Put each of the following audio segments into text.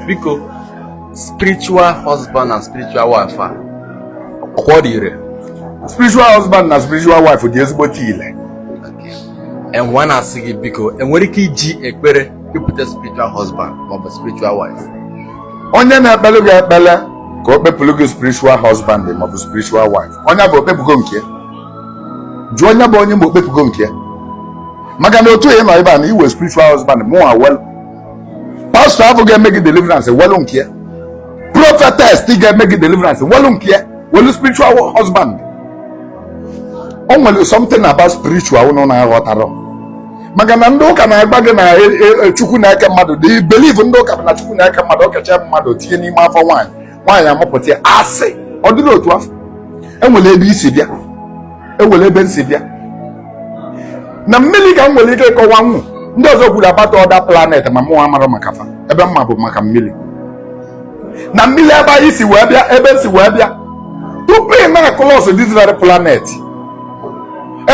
biko spiritual husband and spiritual wife a ọkwa ọ dị ire spiritual husband na spiritual wife dị ezigbo ile enwe na-asị gị biko enwere ike iji ekpere wepụta spiritual husband maọbụ spiritual wife onye na-ekpelụ gị ekpele ka o kpepụrụ gị spiritual husband maọbụ spiritual wife onye bụ okpepụgo nke ya jụọ onye bụ onye ma okpepụgo nke ya maka na otu ị nọ ebe a na inwe spiritual husband mụnwa nwel pastọ afụ ga-eme gị deliverance nwelu nke ya prophetess ga-eme gị deliverance nwelu nke ya nwelu spiritual husband o nwere something about spiritual ụnụ na-aghọtarọ maka na ndị ụka na-agwa gị na e, e, e, chukwu na-eke mmadụ the belief ndị ụka bụ na chukwu na-eke mmadụ okecha mmadụ tinye n'ime afọ nwaanyị nwaanyị amụpụta ya asị ọ dịrọ otu afụ enwere ebe i si bịa enwere ebe n si bịa na mmiri ka m nwere ike ịkọwanwu ndị ọzọ kwuru about other planet ma mụnwa amarọ maka fa ebe m ma bụ maka mmiri na mmiri ebe anyị si wee bịa ebe n si wee bịa tupu ị na-across this very planet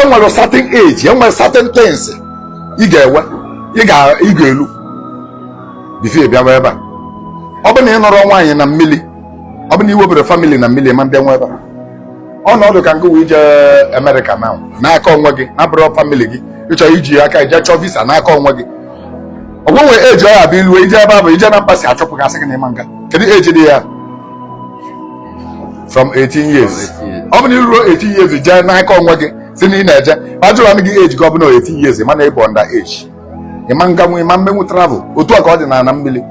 enwere certain age enwere certain things ị ga-enwe ị ga-elu before ị bịawa ebe a ọ bụ na ị nụrọ nwaanyị na mmiri ọ bụ na inweberọ family na mmiri ịma mbịanwu ebe a ọ na-adị ka ngị ije Amerịka now n'aka onwe gị na-abụrọ family gị ịchọ iji aka ije chọọ visa n'aka onwe gị ọ ga-enwe age ọ ya-abụ ilu ije ebe a bụ ije na embassy achụpụ gị asị gị na ịma nga kedu age dị ya from 18 years ọ bụ na iruo 18 years jee n'aka onwe gị si na ị na-eje ajụrụ gị age gị ọ bụ na 18 years mana ịbụ under age ịma nganwu ịma mmenwu travel otu a ka ọ dị n'ala mmiri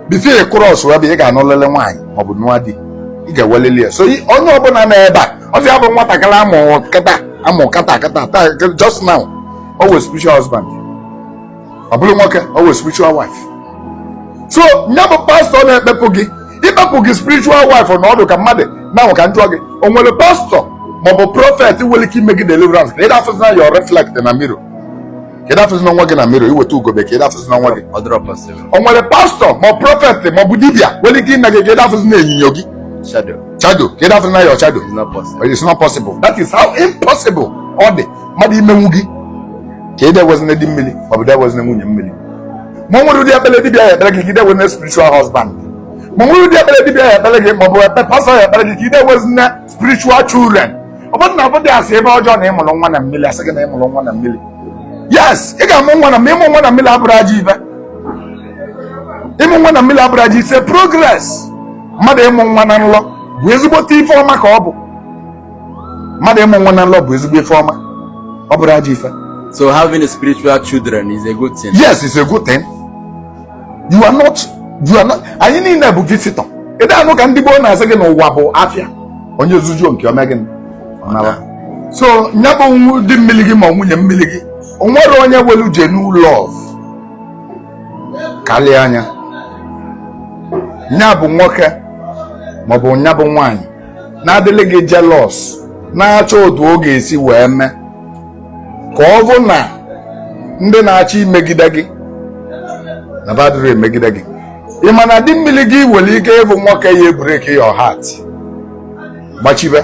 before ị cross ebe ị ga-anụlili nwaanyị maọbụ nụọ di ị ga-enwelili ya so onye ọbụla nọ ebe a ọ ya bụ nwatakịrị amụ kịta amụ kịta kịta taa just now o nwe spiritual husband ọ bụrụ nwoke o nwe spiritual wife so ya bụ pastọ na-ekpepụ gị ịkpepụ gị spiritual wife na ọ dị ka mmadụ ngwanụ ka n jụọ gị o nwere pastọ maọbụ prọfet nwere ike ime gị deliverance ka ị da-afụzina your reflect na mirror ka ị da-afụzina onwe gị na mirror iweta ugegbe ka ị da-afụzina onwe gị o nwere pastọ ma prọfet ma ọ bụ dibia nwere ike ime gị ka ị da-afụzina onyinyo gị shadow ka ị da-afụzina your shadow it's not possible that is how impossible ọ dị mmadụ imenwu gị ka ị de-enwezina di mmiri ma ọ bụ de-enwezina nwunye mmiri ma nwere ụdị ekpere dibịa ya ekpere gị ka ị de-enwezina spiritual husband ma nwere ụdị ekpere dibịa ya ekpere gị ma ọ bụ ekpe pastọ ya ekpere gị ka ị de-enwezina spiritual children ọ bụrọ na ọ bụdị asị ife ọjọọ na ịmụrụ nwa na mmiri asị gị na ịmụrụ nwa na mmiri yes ị ga-amụ nwa na mmiri ịmụ nwa na mmiri abụrọ ajọ ife ịmụ nwa na mmiri abụrọ ajọ it's a progress mmadụ ịmụ nwa na nlọ bụ ezigbote ife ọma ka ọ bụ mmadụ ịmụ nwa na nlọ bụ ezigbo ife ọma ọ bụrọ ajọ ife so having spiritual children is a good thing yes it's a good thing you are not you are not anyị niile bụ visitor ị da-anụ ka ndị gboo na-asị gị n'ụwa bụ afịa onye zujuo nke o mee gịnị so nya bụ di mmili gị ma nwunye mmili gị o nwerọ onye nwelu genuine love kalịa nya nya bụ nwoke maọbụ nya bụ nwaanyị na-adịlị gị jealous na-achọ otu ọ ga-esi wee mee ka ọ bụ na ndị na-achọ imegide gị na badịrị emegide gị ị ma na di mmili gị nwere ike ịbụ nwoke ya ebreki your heart gbachibe